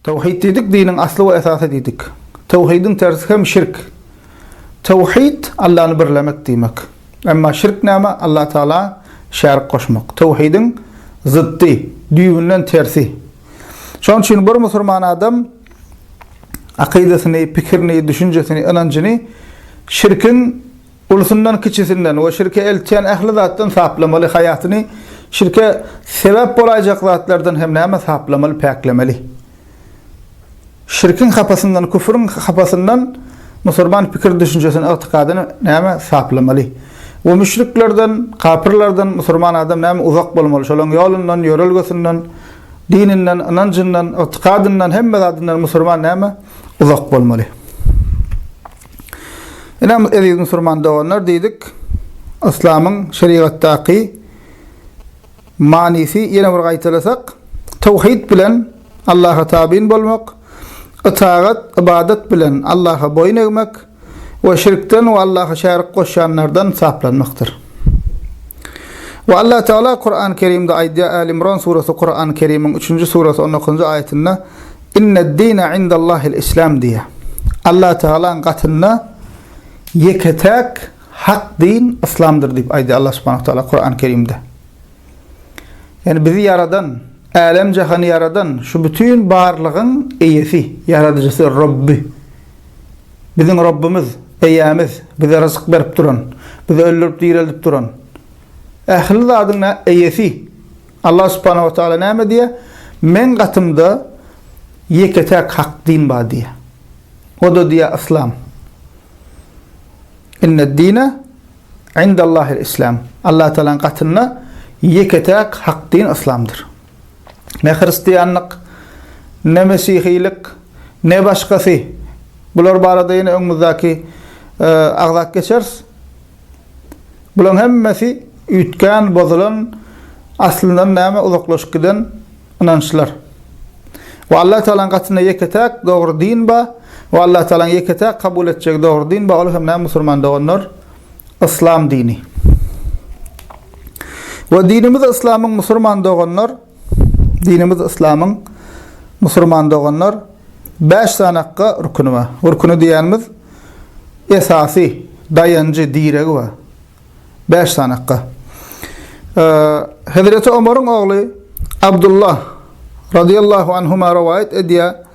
Tawhid diýdik, diniň asly we esasy diýdik. Tawhidiň tersi hem şirk. Tawhid, Allany birlemek diýmek. Emma şirk näme? Alla Tagala şärik goşmak. Tawhidiň zyddy, düýbünden tersi. Şonuň üçin bir musulman adam akydasyny, pikirini, düşünjesini, ynanjyny şirkiň Ulusyndan, kiçisinden we şirke eltýän ähli zatdan saplamaly, haýatyny şirke sebäp bolaýjak zatlardan hem näme saplamaly, päklemeli. Şirkiň hapasyndan, küfrüň hapasyndan musurman pikir-düşünjesini, ygtykadyny näme saplamaly? We müşriklerden, kapyrlardan musurman adam näme uzak bolmaly, şolaryň ýolundan, ýörelgesinden, dininden, ynanjyndan, ygtykadyndan, hemme zadyndan musurman näme uzak bolmaly? Ine, eziz musulman doganlar diýdik, yslamyň şerigatdaky manysy ýene bir gaýtalasak, tawhid bilen Allaha tabyn bolmak, ytagat, ybadat bilen Allaha boýun egmek we şirkden we Allaha şärik goşýanlardan saplanmakdyr. We Allah Tagala Kurany Kerimde aýdýar, Äl-Imran surasy Kurany Kerimiň üçünji surasy on dokuzynjy aýatynda, Inne'd-dine indallahil islam diýýär. Allah Tagalaň gatynda ýeke-täk hak din yslamdyr diýip aýdýar Allah subhanahu wa taala Kurany kerimde. Ýani bizi ýaradan, älem jahany ýaradan şu bütin barlygyň eýesi, ýaradyjysy, Robby. Biziň Robbymyz, eýämiz, bize ryzyk berip duran, bizi öldürip direldip duran, ähli zadyň eýesi. Allah subhanahu wa taala näme diýýär? Meň gatymda ýeke-täk hak din bar diýýär. O-da diýýär yslam. Inned-dine indallahil-islam. Allah taalaň gatynda ýeke-täk hak din yslamdyr. Ne hristianlyk, ne mesihilik, ne başgasy. Bular barada ýene öňümizdäki e, agzap geçeris. Bulaň hemmesi üýtgän, bozulan, aslyndan näme uzaklaşyp giden ynançlar. We Allatagalaň gatynda ýeke-täk dogry din ba, we Allatagalaň ýeke-täk kabul etjegi dogry din ba, ol hem näme musulman doganlar? Yslam dini. We dinimiz Yslamyň musulman doganlar, Dinimiz Yslamyň musurman doganlar bäş sany akga rukuni bar. Rukuni diýýänimiz esasy, daýanjy, diregi bar. Bäş sany akga. Hezreti Omaryň ogly Abdullah radiyallahu anhuma rowaýat edýär.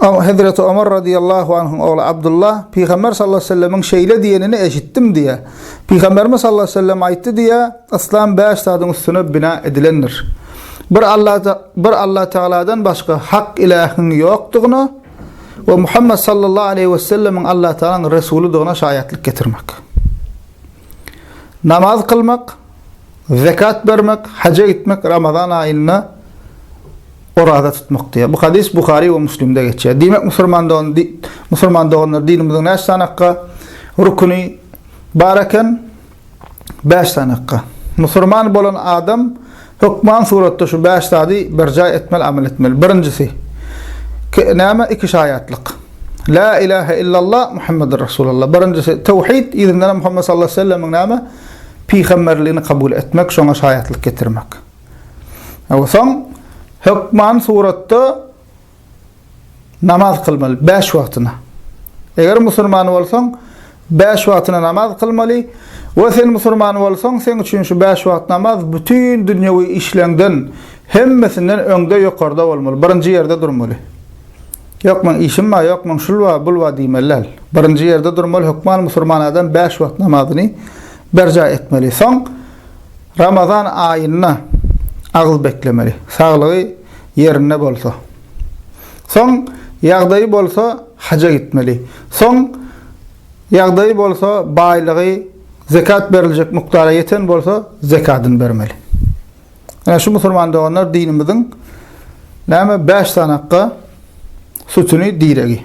Hezreti Omar razyýallahu anhyň ogly Abdullah, Pygamber sallallahu aleyhi ve sellemiň şeýle diýenini eşitdim diýýär. Pygamberimiz sallallahu aleyhi ve sellem aýtdy diýýär, Yslam bäş zadyň üstüne bina edilendir. Bir Allada, bir Allah Tagaladan başga hak ilähiň ýokdugyna we Muhammed sallallahu aleyhi ve sellemiň Allah Tagalaň Resulydygyna şaýatlyk getirmek. Namaz kylmak, zekat bermek, haja gitmek Ramazan aýynda Oraza tutmak diýýär. Bu hadys Buhary we Müslimde geçýär. Diýmek, musulmandygyny di, musulman doganlar dinimiziň näçe sanakga rukuny bar eken? 5 sanakga. Musulman bolan adam hökman suratda şu 5 zady berjaý etmeli, amal etmeli. Birinjisi näme? Iki şaýatlyk. La ilahe illallah Muhammedur Resulullah. Birinjisi tawhid, ýerinden Muhammed sallallahu aleyhi ve sellemiň näme? Pygamberligini kabul etmek, şoňa şaýatlyk getirmek. Soň hökman suratda namaz kylmaly, bäş wagtyna. Eger musulman bolsaň, bäş wagtyna namaz kylmaly we sen musulman bolsaň, seň üçin şu bäş wagt namaz bütin dünýewi işleňden, hemmesinden öňde, ýokarda bolmaly, birinji ýerde durmaly. Ýok, meň işim bar, ýok, meň şul bar, bul bar diýmeli däl. Birinji ýerde durmaly, hökman musulman adam bäş wagt namazyny berjaý etmeli. Soň Ramazan aýynda agyz beklemeli, saglygy ýerinde bolsa. Soň ýagdaýy bolsa haja gitmeli. Soň ýagdaýy bolsa baýlygy zekat beriljek mukdara ýeten bolsa zekadyny bermeli. Ine şu musulman doganlar dinimiziň näme bäş sanakga sütüni diregi.